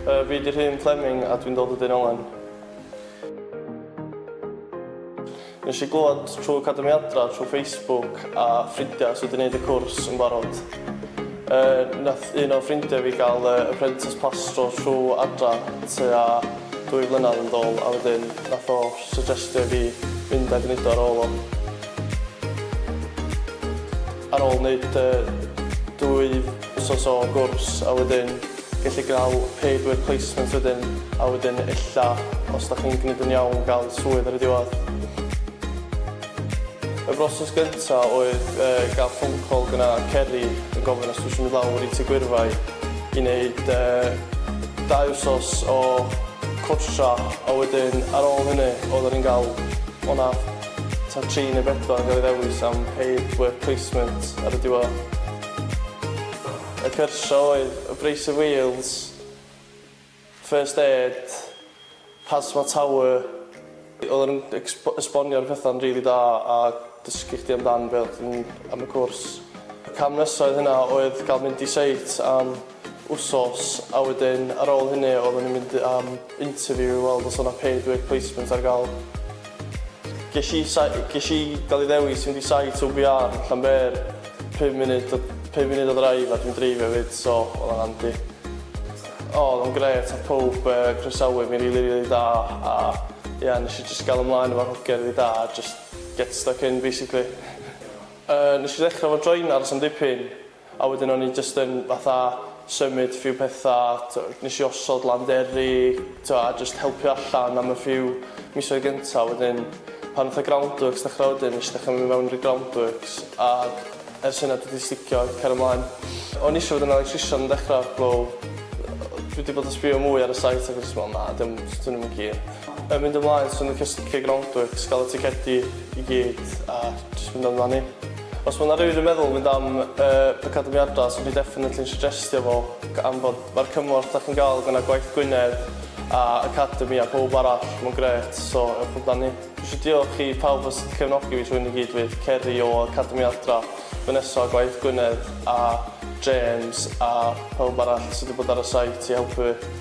Yy fi 'di Rhun Fleming a dwi'n dod o Dyn Owen. Nesh i glwad trw Academi Adra trw Facebook a ffrindia sy 'di neud y cwrs yn barod. Yy nath un o ffrindia fi ga'l yy apprentice plastro trw Adra tua dwy flynadd yn dôl a wedyn nath o syjestio i fi mynd a gneud o ar ôl o. Ar ôl neud yy dwy wsos o gwrs a wedyn Gelli gael pedwar placement wedyn a wedyn ella os da chi'n gneud yn iawn gael swydd ar y diwedd. Y broses gynta oedd gael phone call gyna Ceri yn gofyn os dwi isio mynd lawr i Tŷ Gwyrfai i neud dau wsos o cwrsha a wedyn ar ôl hynny odda ni'n gael o na ta tri neu bedwar yn gael ei ddewis am pedwar placement ar y diwedd. Y cyrsiau oedd Abrasive Wheels, First Aid, Pass My Tower. Oedden nhw'n ecsb- esbonio'r pethau'n rili da a dysgu chdi amdan be' oedd yn am y cwrs. Y cam nesa oedd hynna oedd ga'l mynd i seit am wsos a wedyn ar ôl hynny oedden ni'n mynd am interview i weld os o' 'na paid work placement ar ga'l. Ges i sai- ges i gael ei ddewis i fynd i site OBR yn Llanber, pum munud o pum munud o drive a dwi'n dreifio efyd so oedd o'n handi. O oedd o'n grêt a pawb yy croesawu fi'n rili rili da a ia nes i jyst gael ymlaen efo'r hogia rili da a jyst get stuck in basically. Yy nes i ddechra efo Join Aros am dipyn A wedyn o'n i jyst yn fatha symud few petha, t'o' nesh i osod landeri, t'o' a jyst helpu allan am y few misoedd gynta a wedyn pan nath y groundworks ddechra wedyn nesh i dechra myn' i fewn i'r groundworks a ers hynna dwi 'di sticio i cario mlaen. O'n i isio fod yn electrician yn dechra wel dwi 'di bod yn sbio mwy ar y site ag jyst me'wl na 'di o'm jyst dwn i'm yn keen. Yn mynd ymlaen swn i'n licio sticio i groundworks ga'l y ticedi i gyd a jyst mynd amdani. Os ma' 'na rywun yn meddwl mynd am y pecadwymiadau, swn i definitely yn sugestio fo g- am fod ma'r cymorth 'da chi'n ga'l gynna Gwaith Gwynedd a Academi a powb arall ma'n grêt so ewch amdani. Dwi isio diolch i pawb os di cefnogi fi trwy hyn i gyd fydd Ceri o Academi Adra, Vanessa o Gwaith Gwynedd a James a pawb arall sy di bod ar y site i helpu fi.